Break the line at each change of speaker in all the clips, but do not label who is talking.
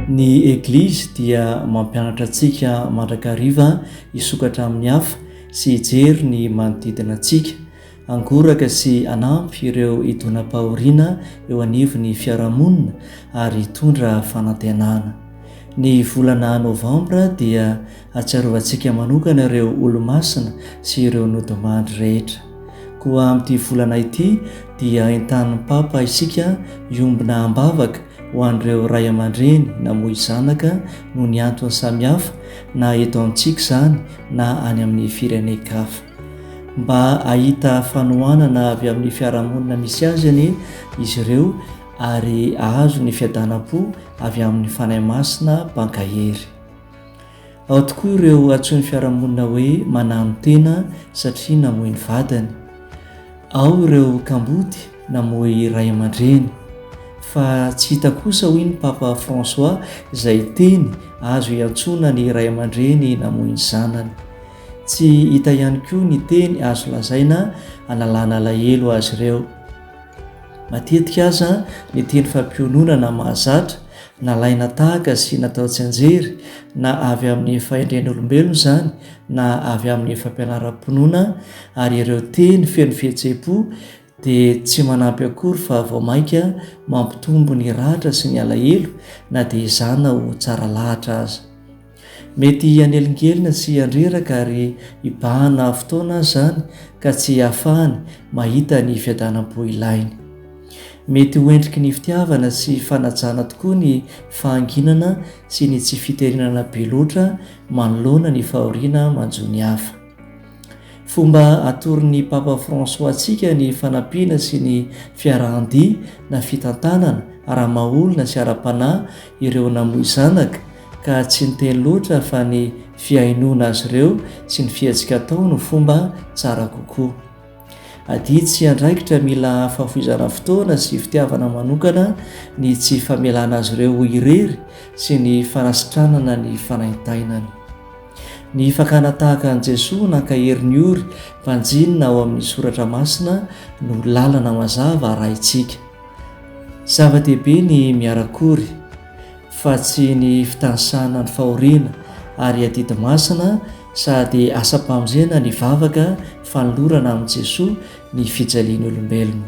Ny Eglizy dia mampianatra antsika mandrakariva hisokatra amin'ny hafa sy hijery ny manodidina antsika, hangoraka sy hanampy ireo idonam-pahoriana eo anivon'ny fiarahamonina ary hitondra fanantenana. Ny volana Novambra dia Hatsiarovantsika manokana ireo Olomasina sy ireo Nodimandry rehetra. Koa amin'ity volana ity dia entanin'ny Papa isika hiombona am-bavaka ho an'ireo ray aman-dreny namoy zanaka noho ny antony samihafa na eto amintsika izany na any amin'ny firenen-kafa. Mba hahita fanohanana avy amin'ny fiarahamonina misy azy anie izy ireo ary hahazo ny fiadanam-po avy amin'ny Fanahy Masina Mpankahery. Ao tokoa ireo antsoin'ny fiarahamonina hoe manano tena satria namoy ny vadiny. Ao ireo kamboty namoy ray aman-dreny. Fa tsy hita kosa hoy ny Papa François izay teny azo iantsoana ny ray aman-dreny namoy ny zanany. Tsy hita ihany koa ny teny azo lazaina hanalana alahelo azy ireo. Matetika aza ny teny fampiononana mahazatra, nalaina tahaka sy natao tsianjery, na avy amin'ny fahendren'olombelona izany na avy amin'ny fampianaram-pinoana, ary ireo teny feno fihetseham-po dia tsy manampy akory fa vao mainka mampitombo ny ratra sy ny alahelo na dia izany na ho tsara lahatra aza. Mety hanelingelina sy handreraka ary hibahana fotoana aza izany ka tsy hahafahany mahita ny fiadanam-po ilainy. Mety ho endriky ny fitiavana sy fanajana tokoa ny fahanginana sy ny tsy fiterinana be loatra manoloana ny fahoriana manjo ny hafa. Fomba atoron'ny Papa François antsika ny fanampiana sy ny fiarahan-dia na fitantanana ara-maha-olona sy ara-panahy ireo namoy zanaka ka tsy ny teny loatra fa ny fihainoana azy ireo sy ny fihetsika atao no fomba tsara kokoa. Adidy sy andraikitra mila fahafoizana fotoana sy fitiavana manokana ny tsy famelana azy ireo ho irery sy ny fanasitranana ny fanaintainany. Ny fakana tahaka an'i Jesoa nankahery ny ory mpanjinina ao amin'ny soratra masina no lalana mazava arahintsika. Zava-dehibe ny miara-kory. fa tsy ny fitanisana ny fahoriana ary adidy masina sady asam-pamonjena ny vavaka fanolorana amin'i Jesoa ny fijalian'ny olombelona.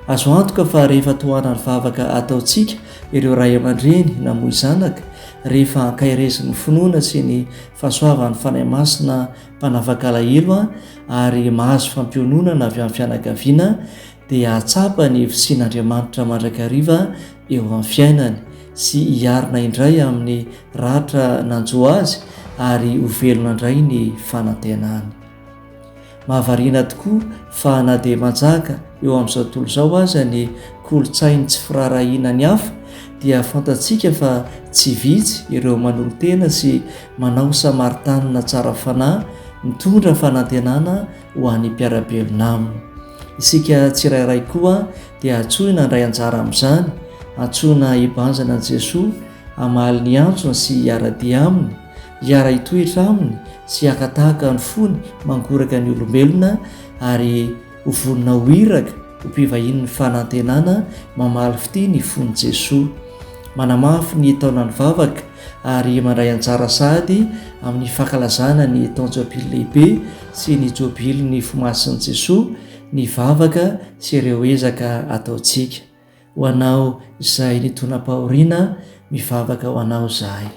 Azo antoka fa rehefa tohanan'ny vavaka ataontsika ireo ray aman-dreny namoy zanaka, rehefa ankairezin'ny finoana sy ny fahasoavan'ny Fanahy Masina mpanavak'alahelo ary mahazo fampiononana avy amin'ny fianakaviana, dia hahatsapa ny fisian'Andriamanitra mandrakariva eo amin'ny fiainany sy hiarina indray amin'ny ratra nanjo azy ary ho velona indray ny fanantenany. Mahavariana tokoa fa na dia manjaka eo amin'izao tontolo izao aza ny kolontsain'ny tsy firaharahiana ny hafa dia fantatsika fa tsy vitsy ireo manolo-tena sy manao samaritanina tsara fanahy mitondra fanantenana ho an'ny mpiara-belona aminy. Isika tsirairay koa dia antsoina handray anjara amin'izany, antsoina hibanjina an'i Jesoa, hamaly ny antsony sy hiara-dia Aminy, hiara-hitoetra Aminy sy haka tahaka ny fony mangoraka ny olombelona ary ho vonona ho iraka ho mpivahinin'ny fanantenana mamaly fitia ny fon'i Jesoa. Manamafy ny taonan'ny vavaka. ary mandray anjara sahady amin'ny fankalazana ny taon-jobily lehibe sy ny jobilin'ny fo masin'i Jesoa ny vavaka sy ireo ezaka ataontsika. Ho anao izay nitonam-pahoriana, mivavaka ho anao izahay.